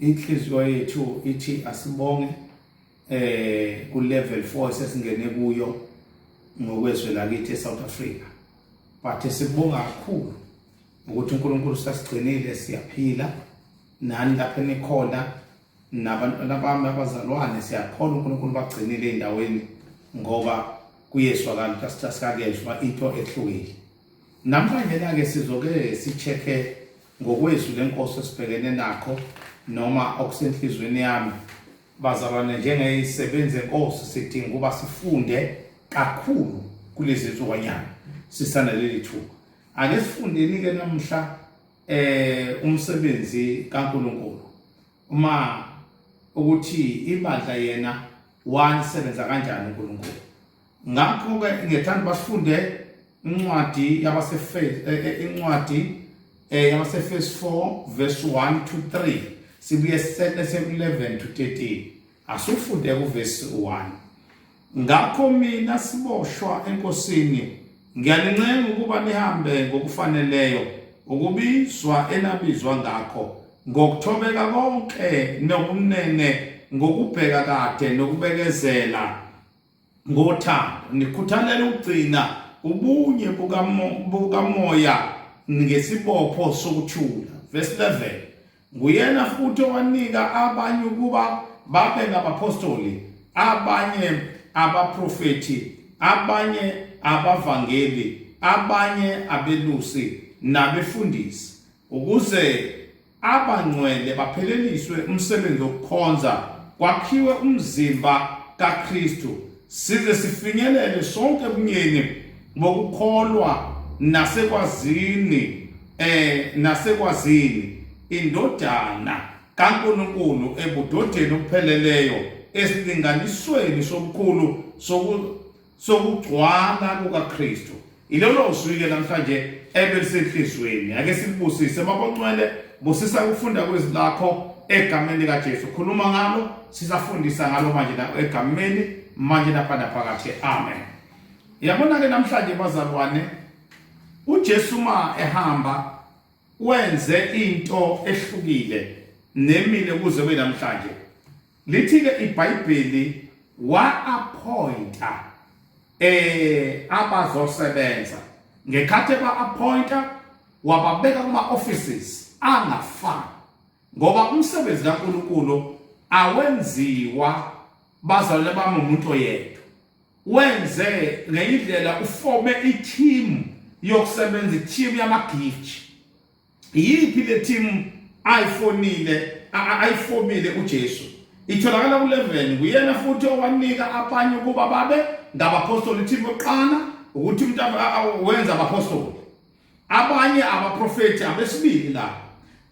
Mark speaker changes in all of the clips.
Speaker 1: inhliziyo yethu ithi asibonge eh ku level 4 sesingene kuyo ngokwezwe lakithi eSouth Africa but sibonga kakhulu ukuthi uNkulunkulu sasigcinile siyaphila nani lapho enikhona nabantwana bami abazalwane siyakholwa uNkulunkulu bagcinile endaweni ngoba kuyeswakala ukuthi asithasikakeshwa into ehlukile namhlanje ke sizoke sicheke Ngokwezwi lenkosi esibhekene nakho noma okusenhlizweni yami bazalwane njengezisebenzi zenkosi sidinga ukuba sifunde kakhulu kulezi nsukanyana sisanaleli thuba ake sifundeni-ke namhla eh umsebenzi kaNkuluNkulu uma ukuthi ibandla yena wanisebenza kanjani uNkulunkulu ngakho-ke ngethanda basifunde incwadi yabasefesi eh, eh, incwadi eh, yabasefesi 4 verse 1 to 3 sibuye sisele se-11 to 13 asufunde kuvesi 1 ngakho mina siboshwa enkosini ngiyanincenga ukuba nihambe ngokufaneleyo ukubizwa enabizwa ngakho ngokuthobeka konke nokunene ngokubheka kade nokubekezela ngothando nikhuthalela ukugcina ubunye bukamoya ngesibopho sokuthula verse 11 nguyena futhi owanika abanye ukuba babe ngabapostoli abanye abaprofethi abanye abavangeli abanye abelusi nabefundisi ukuze abangcwele bapheleliswe umsebenzi wokukhonza kwakhiwe umzimba kaKristu size sifinyelele sonke ebunyeni bokukholwa nasekwazini eh nasekwazini indodana kaNkuluNkulu ebudodeni obupheleleyo esilinganisweni sobukhulu sokugcwala kukaKristu ilolo zwi-ke namhlanje ebelisenhliziyweni ake silibusise baboncwele busisa ukufunda kwezwi lakho egameni likaJesu khuluma ngalo sisafundisa ngalo manje la egameni manje lapha naphakathi amen yabona-ke namhlanje bazalwane uJesu ma ehamba wenze into ehlukile nemile kuze kube namhlanje Lithi-ke iBhayibheli wa-appointa eh abazosebenza ngekhathi eba-appointa wababeka kuma-offices angafani ngoba umsebenzi kaNkulunkulu awenziwa bazalwane bami umuntu oyedwa wenze ngeyindlela ufome i-team yokusebenza i-team yamagiji Yiphi le team ayifonile ayifomile uJesu? Itholakala ku-11 nguyena futhi owanika abanye ukuba babe ngabapostoli team yokuqala ukuthi umuntu wenza abapostoli. Abanye abaprofeti abesibili la.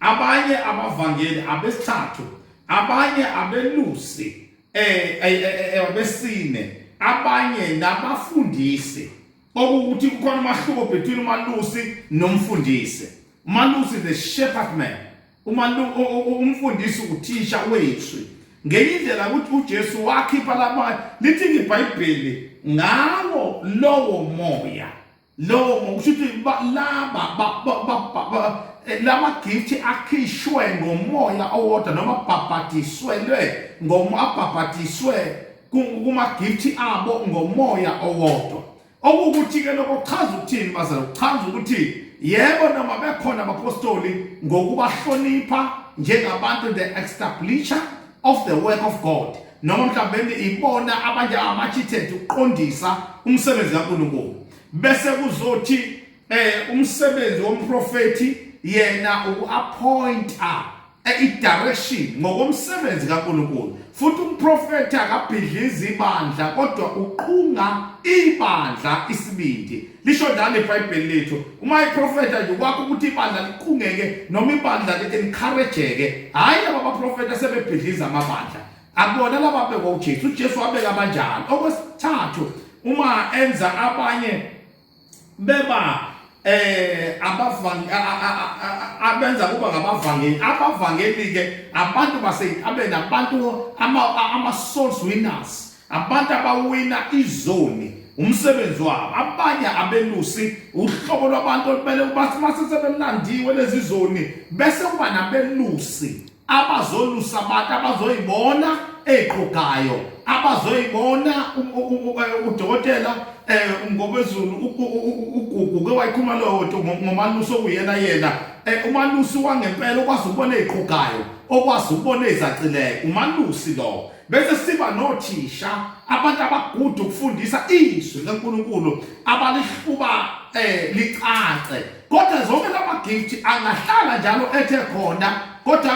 Speaker 1: Abanye abavangeli abesithathu. Abanye abelusi eh, eh, eh, eh abesine. Abanye nabafundisi okuwukuthi kukhona umahluko between umalusi nomfundisi umalusi the shepherd man umfundisi uthisha wethu ngenye indlela ukuthi uJesu wakhipha laba lithi iBhayibheli ngawo lowo moya lowo ngokusho ukuthi laba eh, lama gift akhishwe ngomoya owodwa noma babhadiswelwe ngomabhabhadiswe kumagifthi abo ngomoya owodwa okuwukuthi-ke lokho kuchaza ukuthini bazala kuchaza ukuthi yebo noma bekhona abapostoli ngokubahlonipha njengabantu the establisher of the work of god noma mhlawumbe ibona abanje ama-architect ukuqondisa umsebenzi kaNkulunkulu bese kuzothi eh umsebenzi womprofeti yena uku-appointa idirection ngokomsebenzi kaNkulunkulu futhi umprofethi akabhidlizi ibandla kodwa uqhunga ibandla isibindi lisho njalo ibhayibheli lethu uma iprofetha nje kwakho ukuthi ibandla liqhungeke noma ibandla li-encourageke hhayi laba baprofetha sebebhidliza amabandla akubona laba abekwa ujesu ujesu wabeka abanjani okwesithathu uma enza abanye beba eh abavang abenza kuba ngabavangeli abavangeli ke abantu baseyintabeni abantu ama ama souls winners abantu abawina izoni umsebenzi wabo abanye abelusi uhlobo lwabantu olubele ubathi masesebemnandiwe lezi zoni bese kuba nabelusi abazolusa abantu abazoyibona eqhugayo abazoyibona udokotela eh ngokwezulu ugugu ke wayikhuluma lowo nto ngomalusi okuyena yena eh, umalusi wangempela okwazi ukubona eqhugayo okwazi ukubona ezacileyo umalusi lowo bese siba nothisha abantu abagudu ukufundisa izwi leNkulunkulu abalihluba eh licace kodwa zonke lamagift angahlala njalo ethe khona kodwa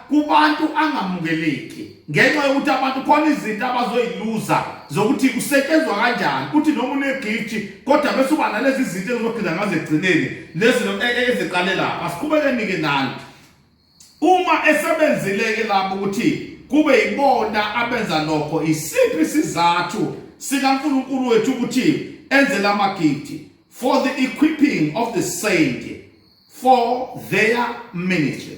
Speaker 1: kubantu angamukeleki ngenxa yokuthi abantu khona izinto abazoyiluza zokuthi kusetshenzwa kanjani kuthi noma unegift kodwa bese uba nalezi zinto ezizogcina ngazo ekugcineni lezi e, e, eziqale lapha siqhubeke nike nalo Uma esebenzile-ke lapho ukuthi kube yibona abenza lokho, isiphi isizathu sikaNkulunkulu wethu ukuthi enze la magidi? For the equipping of the saint for their ministry.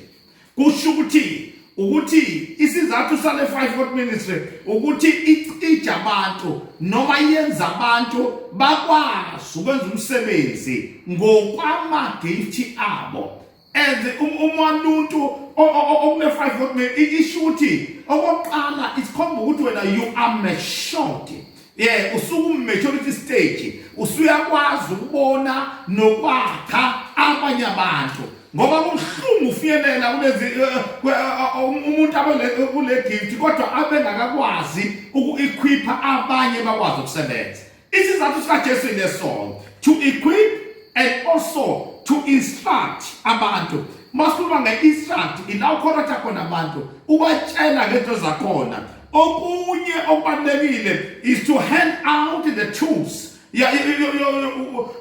Speaker 1: Kusho ukuthi ukuthi isizathu sale five foot ministry ukuthi icija abantu noma yenza abantu bakwazi ukwenza umsebenzi ngokwamagifti abo and um, uma umuntu okune-five vote me isho ukuthi okokuqala isikhomba ukuthi wena you are matured yeah usuku maturity stage usuyakwazi ukubona nokwakha abanye abantu ngoba kubuhlungu ufiyelela kulezi eh, eh, eh, um, umuntu abe kule gift kodwa abengakakwazi uku-equipha abanye bakwazi ukusebenza Isizathu sikaJesu inesongo to equip and also to instruct abantu masikhuluma nge-instruct ila ukhorotha khona abantu ubatshela ngento zakhona okunye okubalulekile is to hand out the tools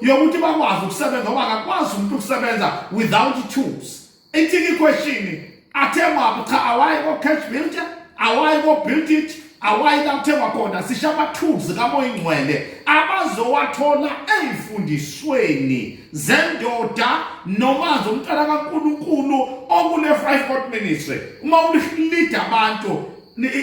Speaker 1: yokuthi bakwazi ukusebenza ngoba akakwazi umuntu ukusebenza without tools Ithini iquestion? Athengwa phi cha awayi ko cash builder, awayi ko build it, awayi la kuthengwa khona sisha amathuzi kamoya ingcwele abazowathola ezifundisweni zendoda noma zomntana kaNkuluNkulu okune 5 hot ministry uma ulihlead abantu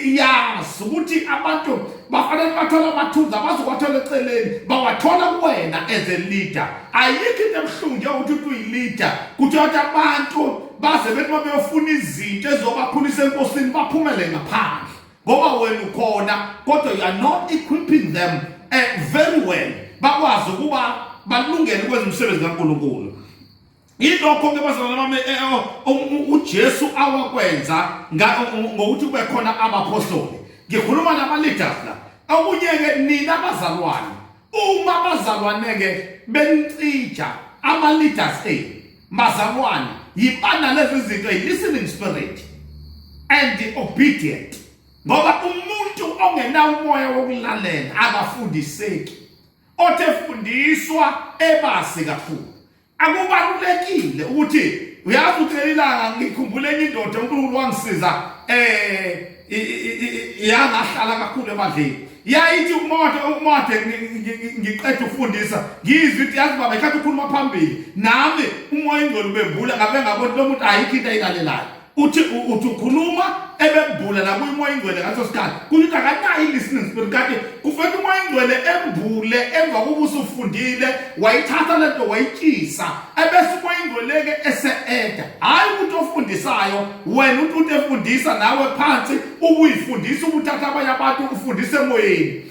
Speaker 1: yazi ukuthi abantu bafanele bathole amathuza bazokwathola eceleni bawathola kuwena as a leader ayikho into ebuhlungu njengokuthi uthi uyi-leader kuthi wathi abantu baze bethi uma beyofuna izinto ezizobakhulisa enkosini baphumele ngaphandle ngoba wena ukhona kodwa you are not equipping them uh, very well bakwazi ukuba balungele ukwenza umsebenzi kankulunkulu Yilokho ke bazalwane bami eh, eh, oh, oh, uJesu awakwenza ngokuthi kube khona abaphostoli. Ngikhuluma nabaleaders la. Okunye ke nina bazalwane uma bazalwane ke benicija abaleaders enu eh, bazalwane yibana lezi zinto listening spirit and the obedient ngoba umuntu ongenawo umoya wokulalela akafundiseki othe fundiswa ebasi kakhulu akubalulekile ukuthi uyazi ukuthi lelilanga ngikhumbule enye indoda uNkulunkulu wangisiza eh yangahlala kakhulu emadleni yayithi umoto umoto ngiqeda ukufundisa ngizwe ukuthi yazi baba ikhathi ukhuluma phambili nami umoya ingcwele ubembula ngabe ngabona lo muntu ayikho into ayilalelayo uthi uthi ukhuluma ebembula la kuyimoya ingcwele ngaso sikhathi kusho ukuthi akanayo i-listening spirit kanti kufanele umoya ingcwele embule emva kokuba usufundile wayithatha le nto wayitshisa ebese umoya ingcwele-ke ese-eda hhayi ukuthi ofundisayo wena uthi uthi efundisa nawe phansi ubuyifundisa ubuthatha abanye abantu ufundise emoyeni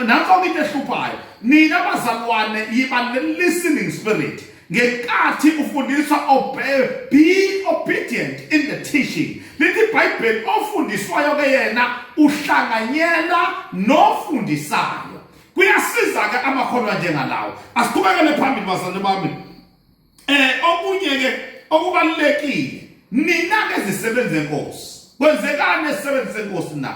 Speaker 1: nanso-ke into ehluphayo nina bazalwane yiba ne-listening spirit ngenkathi ufundiswa obey be obedient in the teaching lithi ibhayibheli ofundiswayo ke yena uhlanganyela nofundisayo kuyasiza ke amakhono anjengalawo asiqhubekele phambili bazalwane bami eh okunye ke okubalekile nina ke zisebenze inkosi kwenzekani esisebenze senkosi na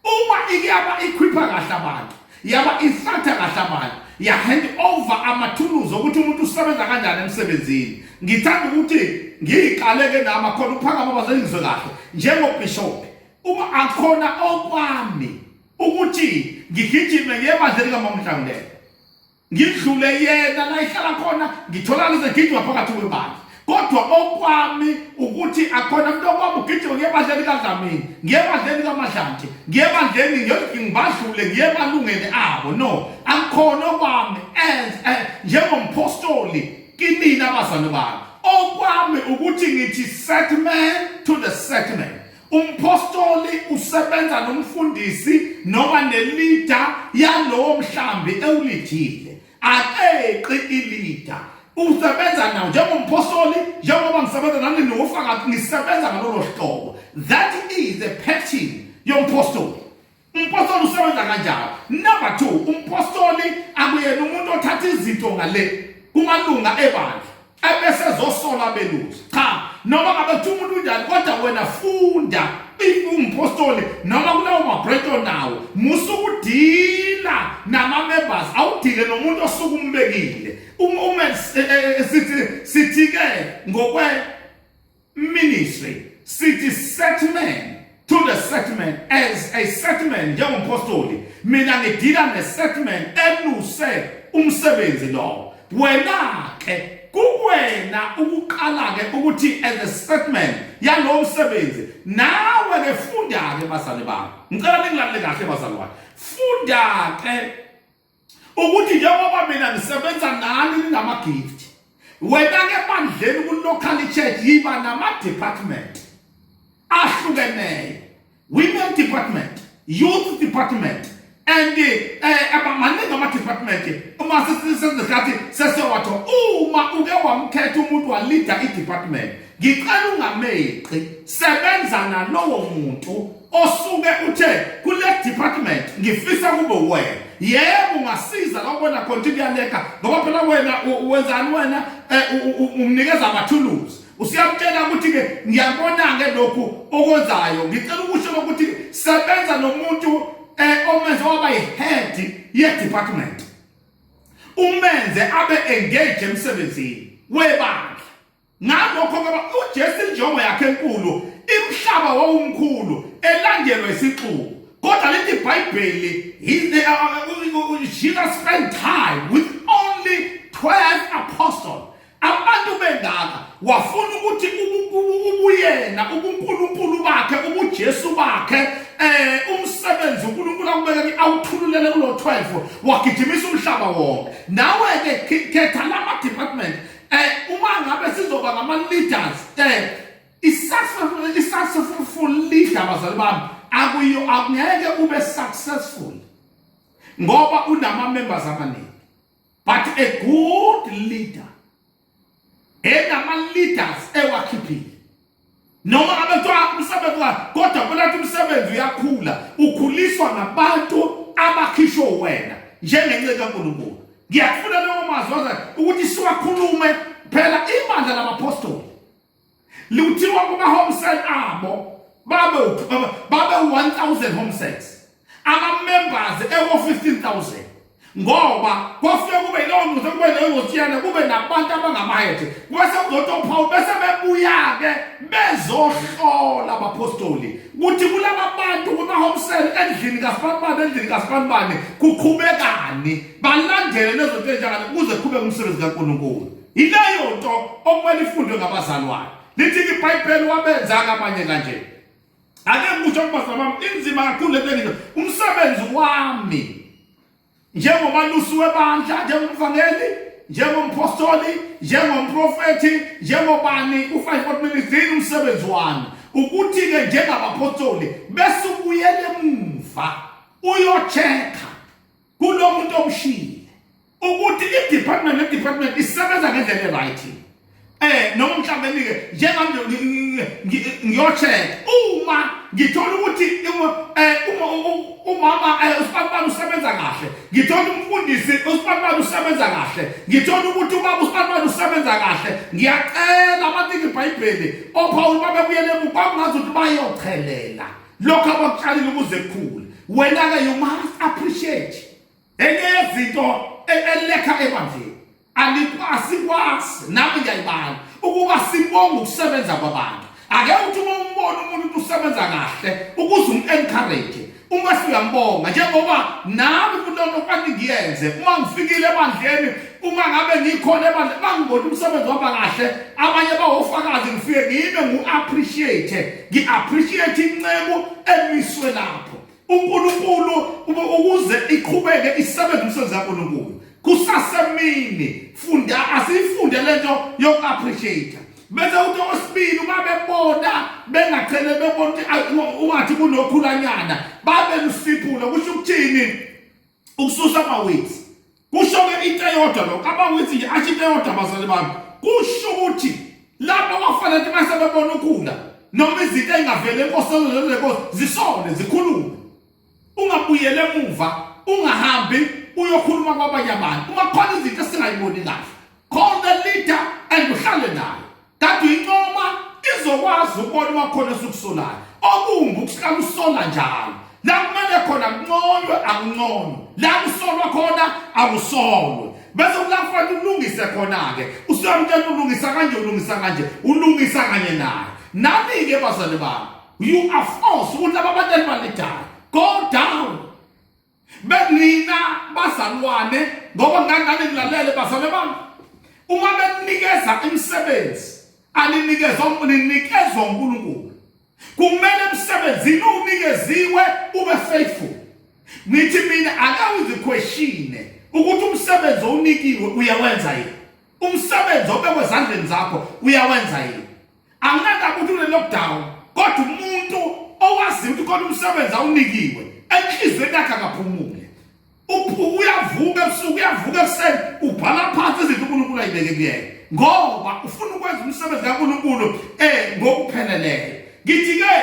Speaker 1: uma iyaba ikhwipha kahle abantu yaba isatha kahle abantu yahand over amathuluzi okuthi umuntu usebenza kanjani emsebenzini ngithanda ukuthi ngiyiqaleke nama khona uphakama bazengizwe kahle njengobishop uma akhona okwami ukuthi ngigijime ngebandla likamamhlangulelo ngidlule yena la ihlala khona ngitholakala segidwa phakathi kwebandla kodwa okwami ukuthi akhona umuntu okwami ugijima ngiye ebandleni kadlamini ngiye ebandleni kamadlanje ngiye ebandleni ngibadlule ngiye emalungeni abo no akukhona okwami as eh, njengomphostoli kinina abazali bami okwami ukuthi ngithi set man to the set man Umphostoli usebenza nomfundisi noma nelida yalowo mhlambi ewulidile. Akeqi ilida. Usebenza nawo njengomphostoli njengoba ngisebenza nani nofakazi ngisebenza ngalolo hlobo. That is the pattern yomphostoli. Umpostoli usebenza kanjalo. Number 2, umpostoli akuyena umuntu othatha izinto ngale kumalunga ebandla ebese ezosola beluzi. Cha, noma ngabe kuthiwa umuntu unjani kodwa wena funda umpostoli noma kulawo mabreto nawo musa ukudila nama-members awudile nomuntu osuke umbekile uma eh, eh, eh, sithi-ke ngokwe ministry sithi set man to the set man as a set man njengompostoli mina ngidila ne-set man eluse umsebenzi lowo wena ke kuwena ukuqala ke ukuthi as a set man yalowo msebenzi nawe ke funda-ke bazali bami ngicela ningilalele kahle bazali wakhe funda-ke ukuthi njengoba mina ngisebenza nani ninama-gift wena-ke ebandleni ku-local church yiba nama-department ahlukeneyo women department youth department and eh, abamaningi ama-department uma sesizikhathi sesewatho uma uke wamkhetha umuntu walida i-department ngicela ungameqi sebenza nalowo muntu osuke uthe kule department ngifisa kube wena yebo ungasiza la ubona khona ukuthi kuyaleka ngoba phela wena wenzani wena eh, umnikeza amathuluzi usiyamtshela ukuthi-ke ngiyabona-ke lokhu okwenzayo ngicela ukusho lokuthi sebenza nomuntu um eh, omenze waba yi-head ye-department umenze abe engage emsebenzini webandla ngalokho ngoba uJesu injongo yakhe enkulu imhlaba wawumkhulu elandelwa isixuku kodwa lithi ibhayibheli jesus spent time with only 12 apostles abantu bengaka wafuna ukuthi ubuyena ubunkulunkulu bakhe ubujesu bakhe eh umsebenzi uNkulunkulu akubekele awuthululele kulo 12 wagijimisa umhlaba wonke nawe ke khetha lama department eh uma ngabe sizoba ngama leaders eh i-successful i-successful leader bazali bami akuyo akungeke ube successful ngoba unama members amaningi but a good leader enama leaders ewakhiphile noma abethiwa umsebenzi wakhe kodwa kwelathi umsebenzi uyakhula ukhuliswa ngabantu abakhishwe wena njengenceku kaNkulunkulu ngiyakufuna leyo mazwi waze ukuthi siwakhulume phela ibandla labapostoli liwuthiwa kuma home cell abo babe babe 1000 home cells amamembers eko-15000 ngoba kwafike kube yilowo muntu okube leyo ngotshiyana kube nabantu abangamaheje kwese kuzothi ophawu bese bebuya-ke bezohlola abapostoli kuthi kulaba bantu kumahomsel endlini kasibanibani endlini kasibanibani kuqhubekani balandele lezo nto enjangani kuze qhube umsebenzi kankulunkulu yileyo nto okumele ifundwe ngabazalwane lithi-ke ibhayibheli wabenzanga abanye kanjena ake ngikusho kubazalwane bami inzima kakhulu lento engiyo umsebenzi wami njengomalusi webandla njengomvangeli njengomphostoli njengomprofethi njengobani u-5 minutes yini umsebenzi wami ukuthi-ke njengabaphostoli bese ubuyele emuva uyochekha kulo muntu omshile ukuthi i-department ne-department isebenza ngendlela e-right eh noma mhlawumbe-ke njengambe ngiyocheck uma ngithola ukuthi eh, umama eh, usibabani usebenza kahle ngithola umfundisi usibabani usebenza kahle ngithola ukuthi ubaba usibabani usebenza kahle ngiyacela abathi ngibhayibheli ophawula babebuyele emuva kwakungazi ukuthi bayochelela lokho abakutshalile ukuze kukhule wena ke you must appreciate enye yezinto e- elekha ebandleni alikwasi kwasi nami ngiyayibala ukuba sibonge ukusebenza kwabantu ake uthi uma umbona umuntu usebenza kahle ukuze um-encourage uma siyambonga njengoba nami kunonokwaningiyenze uma ngifikile ebandleni uma ngabe ngikhona ebandla bangibona umsebenzi waba kahle abanye bawofakazi ngifike ngime ngu-appreciate ngi-appreciate inceku emiswe lapho unkulunkulu ukuze iqhubeke isebenze umsebenzi kankulunkulu kusasemini funda asiyifunde le nto yoku-appreciate bese uthi osibili uma bebona bengachele bebona ukuthi ungathi kunokhulanyana babe lusiphula kusho ukuthini ukususa amawethu kusho-ke into eyodwa lokho amawethu nje asho into eyodwa abazali bami kusho ukuthi lapho kwafanele ukuthi mase bebona ukhula noma izinto ey'ngavele enkosini lezenkosi zisole zikhulume ungabuyele emuva ungahambi uyokhuluma kwabanye abantu uma khona izinto esingayiboni kahle call the leader and uhlale nayo Kade uyincoma izokwazi ukubona uma khona esukusolayo. Okumbi ukuhlala usola njalo. La kumele khona kunconywe akunconywe. La kusolwa khona akusolwe. Bese kulakufanele ulungise khona-ke. Usuyamtshela ulungisa kanje ulungisa kanje ulungisa kanye naye. Nami-ke bazali bami you are forced ukuthi laba batali balidala. Go down. benina bazalwane ngoba ngangane ngilalele bazalwane bami uma beninikeza imisebenzi aninikezwa ninikezwa uNkulunkulu kumele emsebenzini unikeziwe ube faithful ngithi mina ake uziquestione ukuthi umsebenzi owunikiwe uyawenza yini umsebenzi obekwe ezandleni zakho uyawenza yini Anginandaba ukuthi une-lockdown kodwa umuntu owaziyo ukuthi khona umsebenzi awunikiwe enhliziyweni yakhe akaphumule uyavuka ebusuku uyavuka ekuseni ubhala phansi izinto unkulunkulu ayibeke kuyena ngoba ufuna ukwenza umsebenzi kankulunkulu um ngokupheleleyo ngithi-ke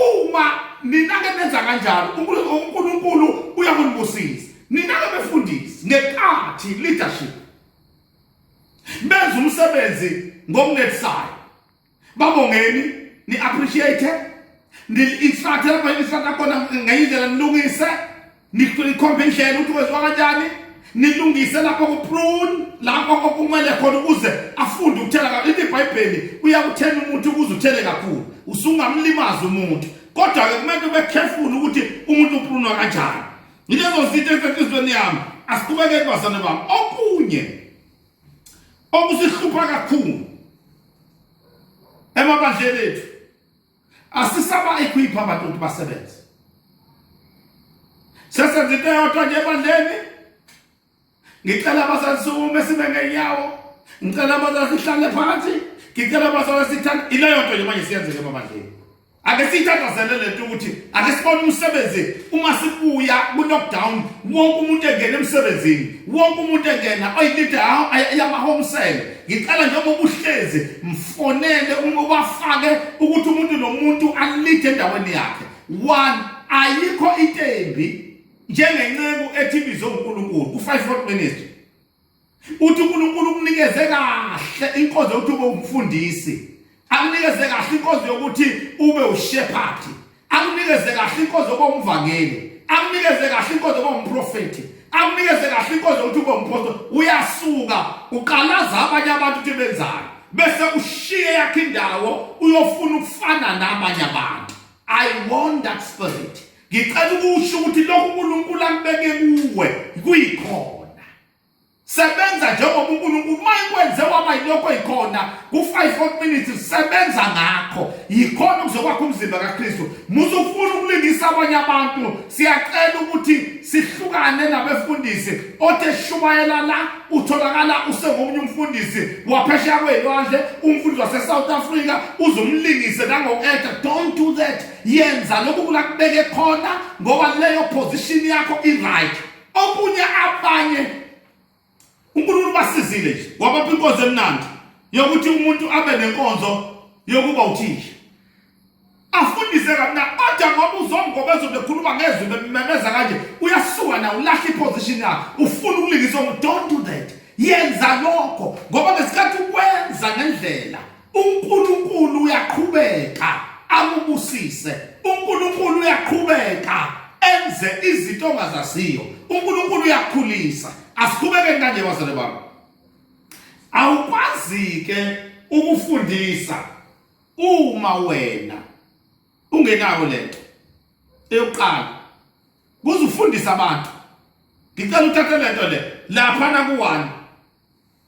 Speaker 1: uma nina-ke nenza kanjalo unkulunkulu uyakunibusisa nina-ke befundisi ngenkathi leadership benza umsebenzi ngokunethisayo babongeni ni appreciate ni instruct lapha instruct akona ngenye indlela nilungise nikhombe indlela ukuthi kwenziwa kanjani nilungise lapho kuprune lapho okumele khona ukuze afunde ukuthela kakhulu ibhayibheli uyakuthela umuntu ukuze uthele kakhulu usungamlimazi umuntu kodwa-ke kumele ube careful ukuthi umuntu uprunwa kanjani Yilezo zinto ezisenhlizweni yami asiqhubekeke bazane bami okunye okusihlupha kakhulu emabandleni ethu asisaba equipha abantu ukuthi basebenze sesenza into eyodwa nje ebandleni ngicela abazali sukume sibe ngenyawo ngicela abazali sihlale phansi ngicela abazali sithanda ileyo nto nje manje siyenzeke emabandleni ake siyithandazele le nto ukuthi ake sibone umsebenzi uma sibuya ku-lockdown wonke umuntu engena emsebenzini wonke umuntu engena oyilide yamahomsele ngicela njengoba ubuhlezi mfonele ubafake ukuthi umuntu nomuntu alide endaweni yakhe one ayikho into embi njengenceku ethi ibizo uNkulunkulu ku-five fold ministry uthi uNkulunkulu ukunikeze kahle inkonzo yokuthi ube umfundisi akunikeze kahle inkonzo yokuthi ube ushephathi akunikeze kahle inkonzo yokuba umvangeli akunikeze kahle inkonzo yokuba umprofethi akunikeze kahle inkonzo yokuthi ube umpostoli uyasuka uqalaza abanye abantu ukuthi benzani bese ushiye yakhe indawo uyofuna ukufana nabanye abantu i want that spirit ngicela ukusho ukuthi lokhu uNkulunkulu akubeke kuwe kuyikhona sebenza njengoba uNkulunkulu uma ikwenze waba yilokho eyikhona ku-5 minutes sebenza ngakho yikhona kuzokwakha umzimba kaKristu muze ufuna ukulingisa abanye abantu siyacela ukuthi sihlukane nabefundisi othe shumayela la utholakala usengomunye umfundisi waphesheya kweyilwandle umfundisi wase-south africa uzumlingise nango-eda don't do that yenza lokhu kulakubeke khona ngoba leyo position yakho i-right okunye abanye unkulunkulu basizile nje wabapha inkonzo emnandi yokuthi umuntu abe nenkonzo yokuba uthisha afundise kamna kodwa ngoba uzongoba ezobe ekhuluma ngezwi bememeza kanje uyasuka na ulahla iposition yakhe ufuna ukulingisa umuntu don't do that yenza lokho ngoba ngesikhathi ukwenza ngendlela uNkulunkulu uyaqhubeka amubusise uNkulunkulu uyaqhubeka enze izinto ongazaziyo uNkulunkulu uyakhulisa asikhubeke kanje bazale bami awukwazi ke ukufundisa uma wena ungenayo lento eyokuqala kuzufundisa abantu ngicela uthathe lento le lapha na ku1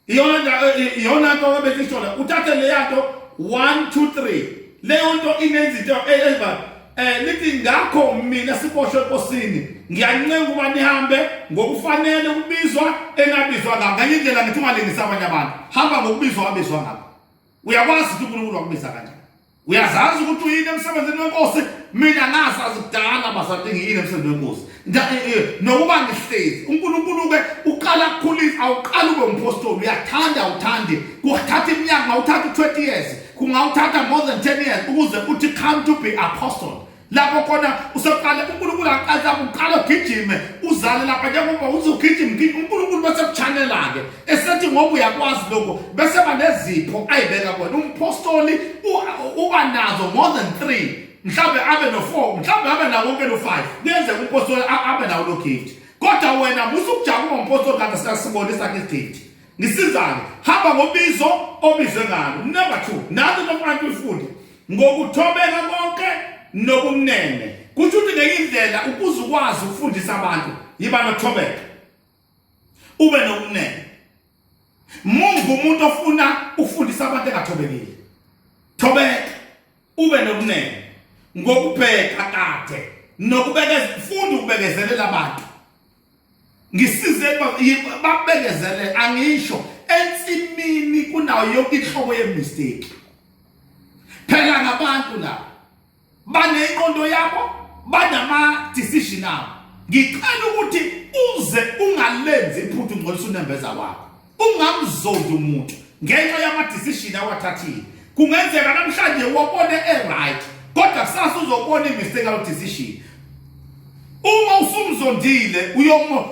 Speaker 1: iyona nto abesishola uthathe leya nto one two three leyo nto inezinto eziba um lithi ngakho mina siboshwe enkosini ngiyancenga ukuba nihambe ngokufanele ukubizwa enabizwa ngako nganye indlela ngithi ungalingisa abanye abantu hamba ngokubizwa wabizwa ngako uyakwazi ukuthi uNkulunkulu wakubiza kanjani uyazazi ukuthi uyini emsebenzini wenkosi mina ngasazi kudala basathi ngiyini emsebenzini wenkosi eh, eh, nokuba ngihlezi unkulunkulu-ke uqala kukhulisa awuqali ube umphostoli uyathanda awuthandi kuthatha iminyaka ngawuthatha u-twenty years kungawuthatha more than ten years ukuze uthi come to be apostle lapho khona useqale uNkulunkulu aqale uqale ugijime uzale lapha njengoba uthi ugijima ugijima uNkulunkulu bese kuchanela-ke esethi ngoba uyakwazi lokho bese banezipho ayibeka kona umpostoli uba nazo more than three mhlawumbe abe no-four mhlawumbe abe nawo konke no-five kuyenzeka umpostoli abe nawo lo gift kodwa wena musa ukujabula ngompostoli kanti siyasibonisa-ke igift ngisizane hamba ngobizo obizwe ngalo number 2 nathi nomfantu ufunde ngokuthobeka konke nokumnene kusho ukuthi ngenye indlela ukuze ukwazi ukufundisa abantu yiba nokuthobeka ube nokumnene mungu umuntu ofuna ukufundisa abantu engathobekile thobeka ube nokumnene ngokubheka kade nokubekeza funda ukubekezelela abantu ngisize babekezele angisho ensimini kunayo yonke inhlobo yemistake phela ngabantu la baneyinqondo yabo banama decision abo ngicela ukuthi uze ungalenzi iphuthu ngolisa unembeza wakho ungamzondi umuntu ngenxa yamadecision awathathile kungenzeka namhlanje wabone e-right kodwa kusasa uzobona imistake awu-decision uma usumzondile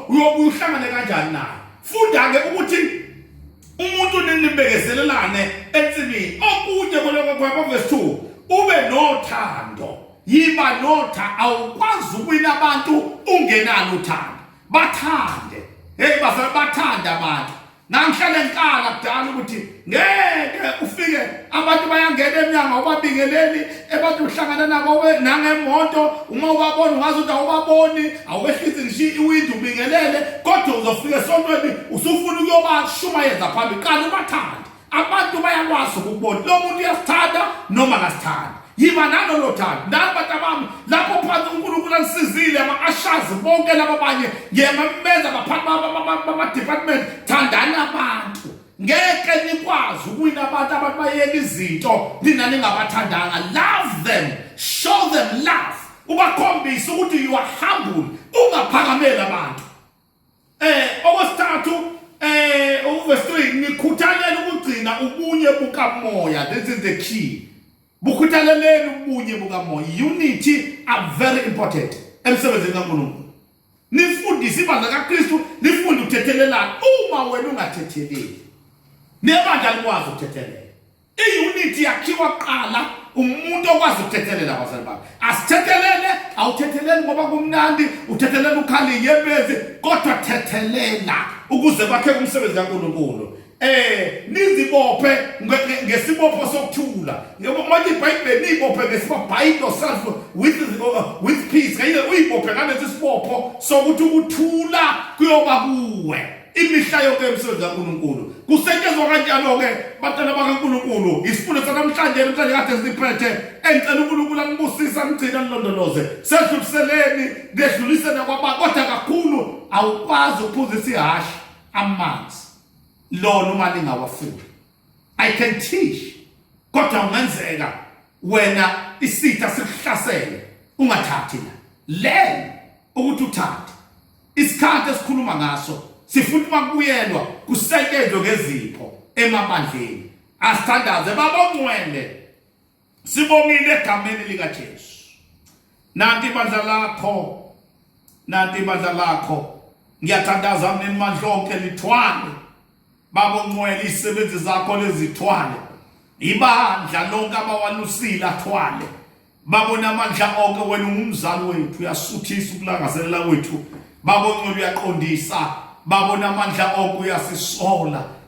Speaker 1: uyobuhlangane kanjani naye funda-ke ukuthi umuntu ninibekezelelane ensimini okunye koloko kwakho verse 2 ube nothando yiba notha awukwazi ukwina abantu ungenalo uthando bathande hey bazali bathande abantu nangihlale ngikala kudala ukuthi ngeke ufike abantu bayangena emnyango ubabingeleli abantu uhlangana nabo nangemoto uma ubabona ungazi ukuthi awubaboni awehlisi ngisho iwindi ubingelele kodwa uzofika esontweni usufuna ukuyobashumayeza phambi qala ubathande abantu bayakwazi ukubona lo muntu uyasithanda noma ngasithanda yiba nalolo thando nani bantu abami lapho phansi unkulunkulu anisizile ama-ashazi bonke laba banye ngemameza baphathi bamadepartment thandani abantu ngeke nikwazi ukuwina abantu abantu bayeka izinto nina ningabathandanga love them show them love ubakhombise ukuthi you are humble ungaphakameli abantu Eh okwesithathu eh uverse 3 nikhuthalele ukugcina ubunye bukamoya this is the key. Bukhuthaleleni ubunye bukamoya. Unity are very important emsebenzini kaNkulunkulu. Nifundise ibandla kaKristu, nifunde ukuthethelelana uma wena ungathetheleli. Nebandla likwazi ukuthethelela. I-unit yakhiwa kuqala umuntu okwazi ukuthethelela abazali bakhe asithethelele awuthetheleli ngoba kumnandi uthethelela ukhali yebezi kodwa thethelela ukuze kwakheke umsebenzi kankulunkulu eh nizibophe ngesibopho sokuthula ngoba manje iBhayibheli nizibophe ngesibopho bind yourself with uh, with peace kayile uyibophe ngalesi sibopho sokuthi ukuthula kuyoba kuwe imihla yonke emsebenzi kaNkulunkulu kusetshenzwa kanjalo-ke bantwana bakaNkulunkulu isifundo sanamhlanje namhlanje kade siphethe engicela uNkulunkulu angibusise angigcina nilondoloze sedluliseleni ngedlulise nakwaba kodwa kakhulu awukwazi ukuphuzisa ihhashi amanzi lona uma lingawafuni I can teach kodwa ungenzeka wena isitha sikuhlasele ungathathi la learn ukuthi uthathe isikhathi esikhuluma ngaso sifuna uma kubuyelwa kusetshenzwe ngezipho emabandleni asithandaze babongcwele Sibongile egameni lika Jesu. Nanti ibandla lakho. Nanti ibandla lakho. Ngiyathandaza mina imandla lonke lithwale. Baba ungcwele isebenzi zakho lezithwale. Ibandla lonke abawalusile athwale. Babona amandla onke wena ungumzali wethu uyasuthisa ukulangazelela kwethu. Baba ungcwele uyaqondisa. Babona amandla onke uyasisola.